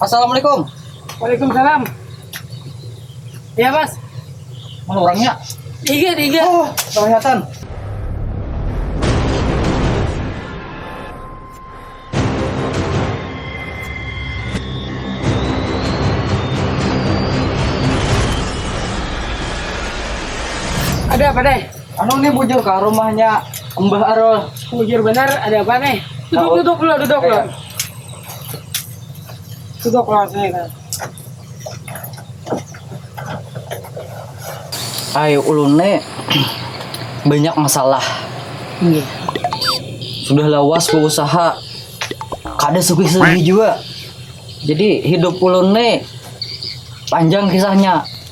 assalamualaikum waalaikumsalam ya mas mana orangnya iya iya oh, kelihatan ada apa deh anu nih bujur ke rumahnya Mbah Arul bujur benar ada apa nih duduk duduk dulu duduk dulu Sudah kelasnya kan. Ay ulun ne banyak masalah. Iya. Sudah lawas berusaha kada sugih-sugih juga. Jadi hidup ulun ne panjang kisahnya.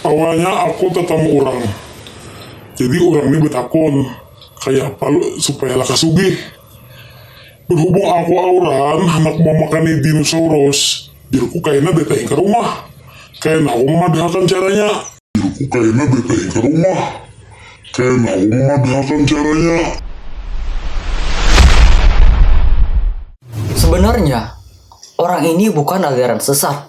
Awalnya aku tatamu urang, jadi urang ni batakun kayapa supaya laka sugih. Berhubung aku auran handak mamakani dinosaurus, jarku kaina betaing ka rumah. Kaina aku mamadahakan caranya. Jarku kaina betaing ka rumah. Kaina aku mamadahakan caranya. Sebenarnya, orang ini bukan aliran sesat.